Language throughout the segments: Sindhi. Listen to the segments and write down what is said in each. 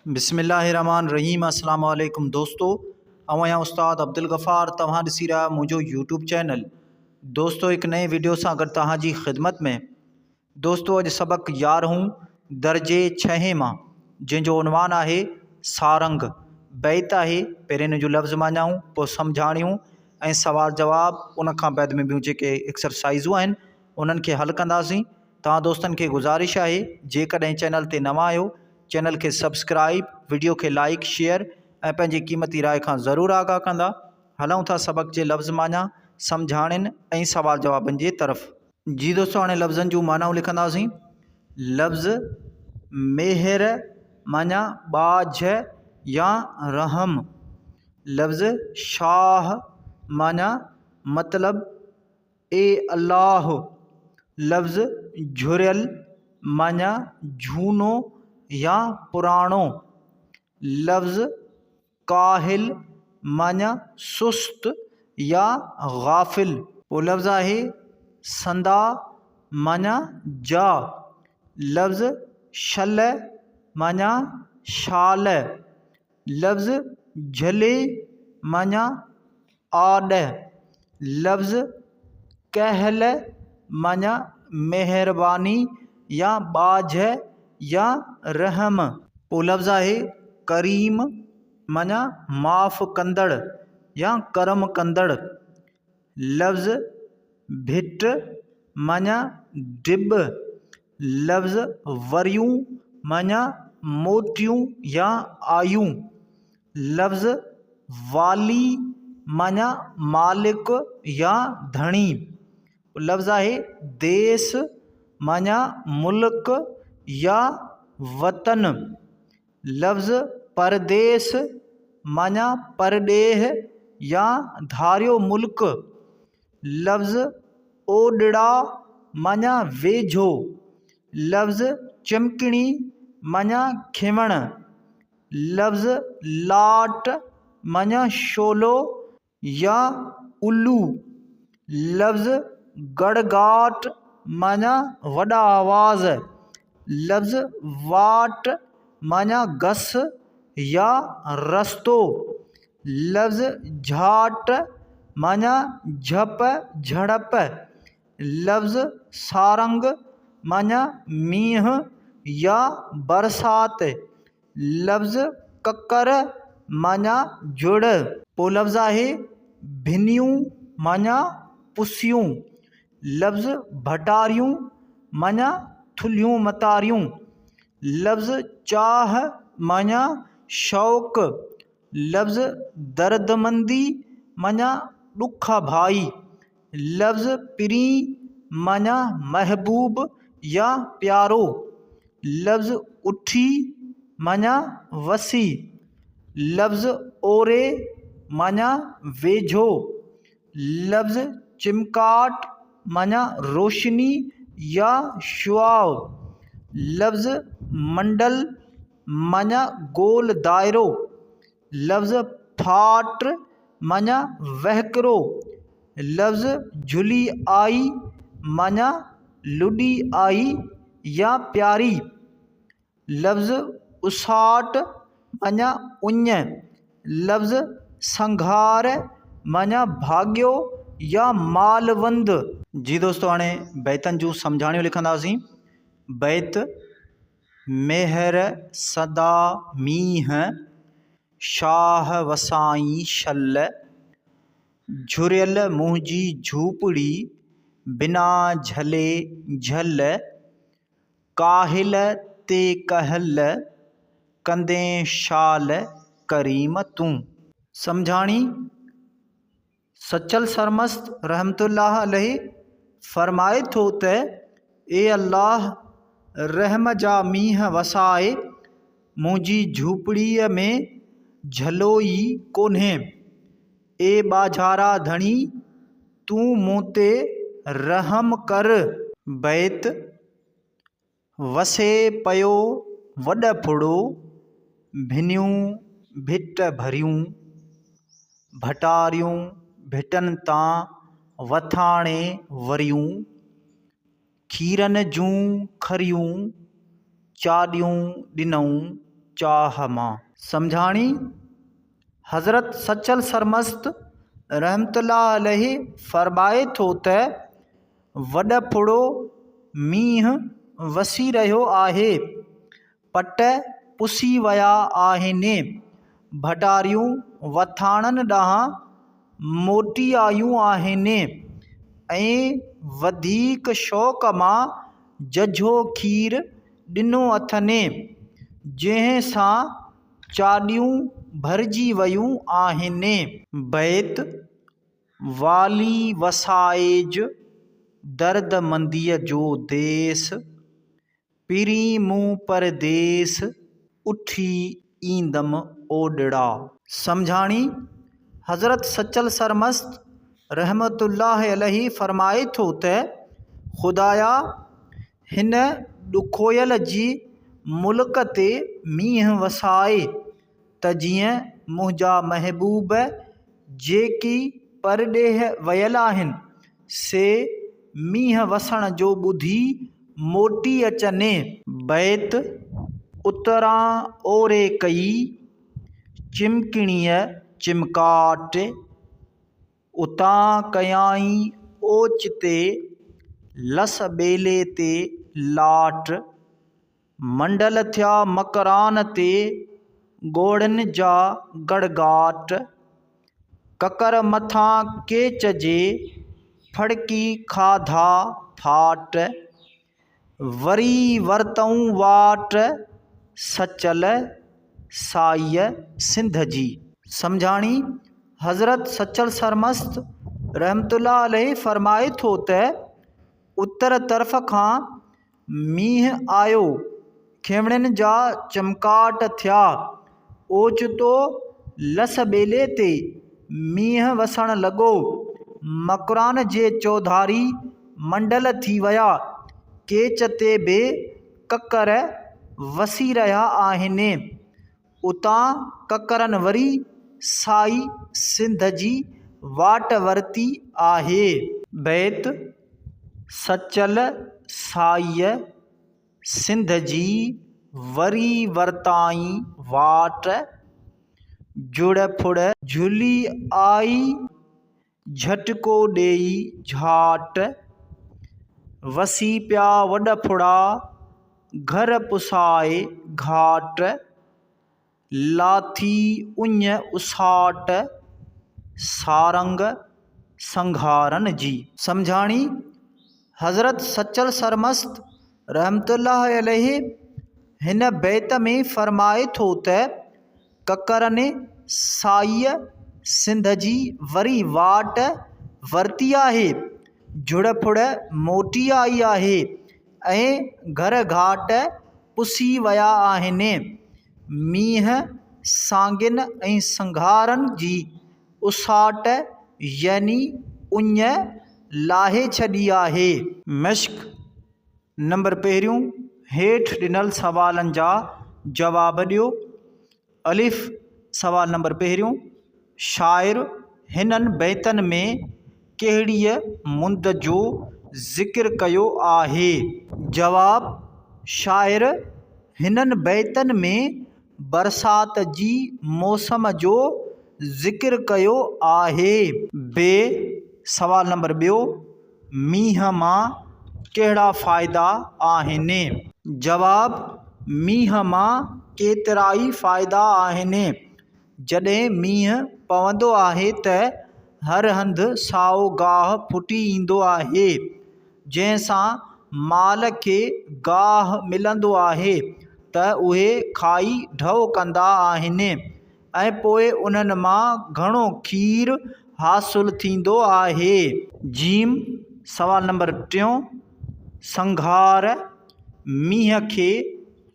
بسم الله الرحمٰن الرحيم اسلام عليڪم دوستو آئون آهيان استاد عبدالغفار توهان ڏسي رهيا آهيو منهنجو يوٽيوب چينل دوستو هڪ نئين ويڊيو سان گڏ توهان جي خدمت ۾ دوستو اڄ سبق يارهون درجي ڇهين مان جنهن جو عنوان آهي سارنگ بيت آهي پهرين ان جو لفظ ماڃائون پوء سمجهاڻيون ۽ سوال جواب ان کان بعد ۾ ٻيون جيڪي ايڪسرسائزون آهن انهن کي حل ڪنداسين توهان دوستن کي گذارش آهي جيڪڏهن چينل تي نوان آهيو چينل کي سبسڪرائيب وڊيو کي لائيڪ شيئر ۽ پنهنجي قيمتي راء کان ضرور آگاهه ڪندا هلون ٿا سبق جي لفظ معنيٰ سمجهاڻين ۽ سوال جوابن جي طرف جي دوستو هاڻي لفظن جون معنائون لکنداسين لفظ مهر معنيٰ ٻاجهه يا رحم لفظ شاهه معنيٰ مطلب اي الله! لفظ جهريل معني جهونو يا پراڻو. لفظ ڪاهل معني سست يا غافل. ٻيو لفظ آهي سندا معني جا. لفظ شلهه معني شال. لفظ جھلي معنيٰ آڏھ. لفظ ڪهل معنيٰ مهرباني يا ٻاجهه يا رحم. ٻيو لفظ آهي ڪريم معنيٰ معاف ڪندڙ يا ڪرم ڪندڙ. لفظ ڀٽ معنيٰ ڊٻ، لفظ وريون معنيٰ موٽيون يا آيون، لفظ والي معنيٰ مالڪ يا ڌڻي، لفظ آهي ديس معنيٰ ملڪ يا وطن لفظ پرديس معنيٰ پرڏيهه يا ڌاريو ملڪ، لفظ اوڏڙا معنيٰ ويجهو، لفظ چمڪڻي معنيٰ کينوڻ، لفظ لاٽ معنيٰ شعلو، يا الو لفظ گڙگاٽ معنيٰ وڏا آواز لفظ واٽ معنيٰ گس يا رستو لفظ جھاٽ معنيٰ جھپ جھڙپ لفظ سارنگ معنيٰ مينهن يا برسات لفظ ڪڪر معنيٰ جڙ. پو لفظ آهي ڀنيون معنيٰ پسيون. لفظ ڀٽاريون معنيٰ ٿلهيون متاريون. لفظ چاهه معنيٰ شوق. لفظ دردمندي معنيٰ ڏک آ ڀائي. لفظ پرين معنيٰ محبوب يا پيارو. لفظ اٺي معنيٰ وسي. لفظ اوري معنيٰ ويجهو. لفظ چمڪاٽ معنيٰ روشني يا شعاع. لفظ منڊل معنيٰ گول دائرو، لفظ ڦاٽ معنيٰ وهڪرو، لفظ جهلي آئي معنيٰ لڏي آئي يا پياري، لفظ اساٽ معنيٰ اڃ، لفظ سنگهار معنيٰ ڀاڳيو يا مالوند. جي دوستو هاڻي بيتن جون سمجهاڻيون لکنداسين بيت، ميهر سدا مينهن، شاهه وسائين شل، جهريل منهنجي جهوپڙي، بنا جهلي جهل، ڪاهل تي ڪهل، ڪندين شال ڪريم تون. سمجهاڻي، سچل سرمست رحمة الله عليه فرمائي ٿو ته، اي الله! رحم جا مينهن وساء، منهنجي جهوپڙيء ۾ جهلو ئي ڪونهي. اي ٻاجهارا ڌڻي! تون مون تي رحم ڪر. بيت، وسي پيو وڏ ڦڙو، ڀنيون ڀٽ ڀريون، ڀٽاريون ڀٽن تان وٿاڻي وريون، کيرن جون کريون، چاڏيون ڏنئون چاهه مان. سمجهاڻي، حضرت سچل سرمست رحمة الله عليه فرمائي ٿو ته. وڏڦڙو مينهن وسي رهيو آهي. پٽ پسي ويا آهن. ڀٽاريون وٿاڻن ڏانهن موٽي آيون آهن ۽ وڌيڪ شوق مان ججهو کير ڏنو اٿن، جنهن سان چاڏيون ڀرجي ويون آهن. بيت والي وسائج درد منديء جو ديس، پرين مون پرديس اٿي ايندم اوڏڙا. سمجهاڻي، حضرت سچل سرمست رحمة الله عليه فرمائي ٿو ته، خدايا! هن ڏکويل جي ملڪ تي مينهن وساء. ته جيئن منهنجا محبوب جيڪي پرڏيهه ويل آهن سي مينهن وسڻ جو ٻڌي موٽي اچني. بيت، اتران اوري ڪئي چمڪڻيء چمڪاٽ، اتان ڪيائين اوچتي لس ٻيلي تي لاٽ. منڊل ٿيا مڪران تي ڳوڙهن جا گڙگاٽ، ڪڪر مٿان ڪيچ جي ڦڙڪي کاڌا ڦاٽ، وري ورتئون واٽ سچل سائيء سنڌ جي. سمجهاڻي، حضرت سچل سرمست رحمة الله عليه فرمائي ٿو ته، اتر طرف کان، مينهن آيو، کينوڻين جا چمڪاٽ ٿيا، اوچتو لس ٻيلي تي مينهن وسڻ لڳو، مڪران جي چوڌاري منڊل ٿي ويا، ڪيچ تي به ڪڪر وسي رهيا آهن. اتان ڪڪرن وري سائي سنڌ جي واٽ ورتي آهي. بيت، سچل سائيء سنڌ جي وري ورتائين واٽ، جڙ ڦڙ. جھلي آئي جهٽڪو ڏيئي جهاٽ، وسي پيا وڏ ڦڙا، گهر پسائي گهاٽ، لاٿي اڃ اساٽ، سارنگ سنگهارن جي. سمجهاڻي، حضرت سچل سرمست رحمة الله عليه هن بيت ۾ فرمائي ٿو ته. ڪڪرني سائيء سنڌ جي وري واٽ ورتي آهي جڙ ڦڙ موٽي آئي آهي ۽ گهر گهاٽ پسي ويا آهن مينهن سانگين ۽ سنگهارن جي اساٽ يعني اڃ لاهي ڇڏي آهي مشڪ نمبر پهريون، هيٺ ڏنل سوالن جا جواب ڏيو. الف، سوال نمبر پهريون، شاعر هنن بيتن ۾ ڪهڙيء مند جو ذڪر ڪيو آهي؟ جواب، شاعر هنن بيتن ۾ برسات جي موسم جو ذڪر ڪيو آهي. ب، سوال نمبر ٻيو، مينهن مان ڪهڙا فائدا آهن؟ جواب، مينهن مان ڪيترائي فائدا آهن. جڏهن مينهن پوندو آهي ته هر هنڌ سائو گاهه ڦٽي ايندو آهي، جنهن سان مال کي گاهه ملندو آهي ته اهي کائي ڍؤ ڪندا آهن. ۽ پوء انهن مان گهڻو کير حاصل ٿيندو آهي. ج سوال نمبر ٽيون، سنگهار مينهن کي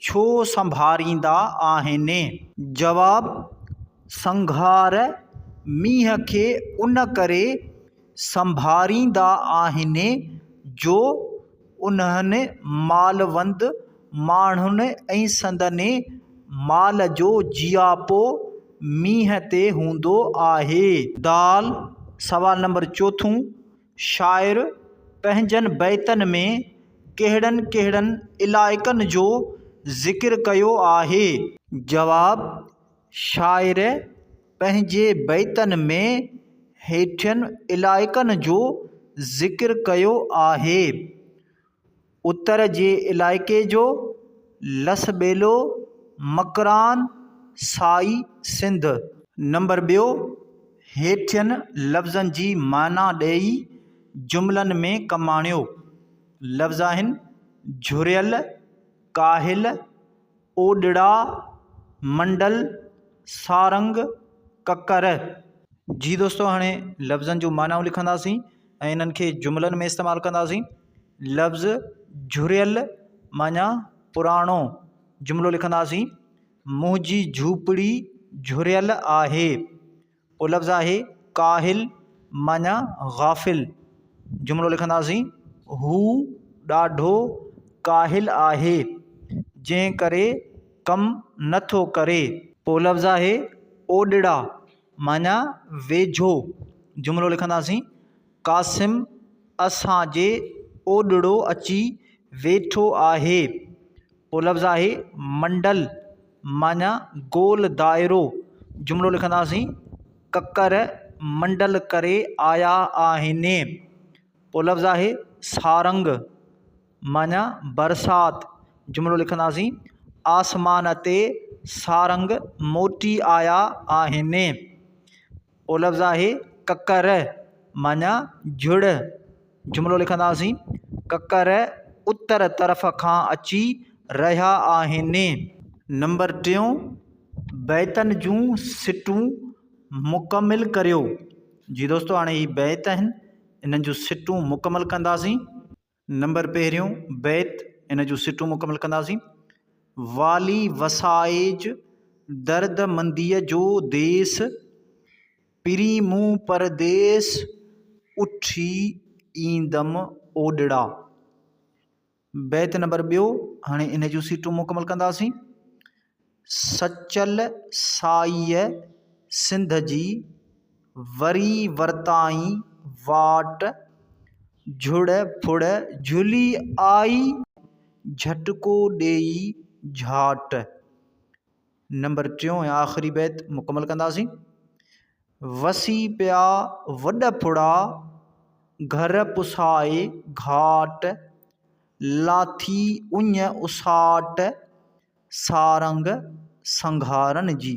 ڇو سنڀاريندا آهن؟ جواب، سنگهار مينهن کي ان ڪري سنڀاريندا آهن جو انهن مالوند ماڻهن ۽ سندن مال جو جياپو مينهن تي هوندو آهي. دال، سوال نمبر چوٿون، شاعر پنهنجن بيتن ۾ ڪهڙن ڪهڙن علائقن جو ذڪر ڪيو آهي؟ جواب، شاعر پنهنجي بيتن ۾ هيٺين علائقن جو ذڪر ڪيو آهي، اتر جي علائقي جو، لس ٻيلو، مڪران، سائي سنڌ. نمبر ٻيو، هيٺين لفظن جي معنيٰ ڏيئي جملن ۾ ڪم آڻيو. لفظ آهن، جهريل، ڪاهل، اوڏڙا، منڊل، سارنگ، ڪڪر. جي دوستو هاڻي لفظن جون معنائون لکنداسين ۽ انهن کي جملن ۾ استعمال ڪنداسين لفظ جهريل معنيٰ پراڻو جملو لکنداسين منهنجي جهوپڙي جهريل آهي اهو لفظ آهي ڪاهل معنيٰ غافل جملو لکنداسين هو ڏاڍو ڪاهل آهي جنهن ڪري ڪم نه ٿو ڪري اهو لفظ آهي اوڏڙا معنيٰ ويجهو جملو لکنداسين قاسم اسان جي اوڏڙو اچي ويٺو آهي اهو لفظ آهي منڊل معنيٰ گول دائرو جملو لکنداسين ڪڪر منڊل ڪري آيا آهن اهو لفظ آهي سارنگ معنيٰ برسات جملو لکنداسين آسمان تي سارنگ موٽي آيا آهن او لفظ آهي ڪڪر معنيٰ جڙ جملو لکنداسين ڪڪر اتر طرف کان اچي رهيا آهن. نمبر ٽيون، بيتن جون سٽون مڪمل ڪريو جي دوستو هاڻي هي بيت آهن انهن جون سٽون مڪمل ڪنداسين. نمبر پهريون بيت ان جون سٽون مڪمل ڪنداسين. والي وسائج درد منديء جو ديس، پرين مون پرديس اٿي ايندم اوڏڙا. بيت نمبر ٻيو هاڻي ان جون سٽون مڪمل ڪنداسين. سچل سائيء سنڌ جي وري ورتائين واٽ جھڙ ڦڙ جھلي آئي، جھٽڪو ڏيئي جھاٽ. نمبر ٽيون ۽ آخري بيت مڪمل ڪنداسين. وسي پيا وڏ ڦڙا، گهر پسائي گهاٽ، لاٿي اڃ اساٽ، سارنگ سنگهارن جي.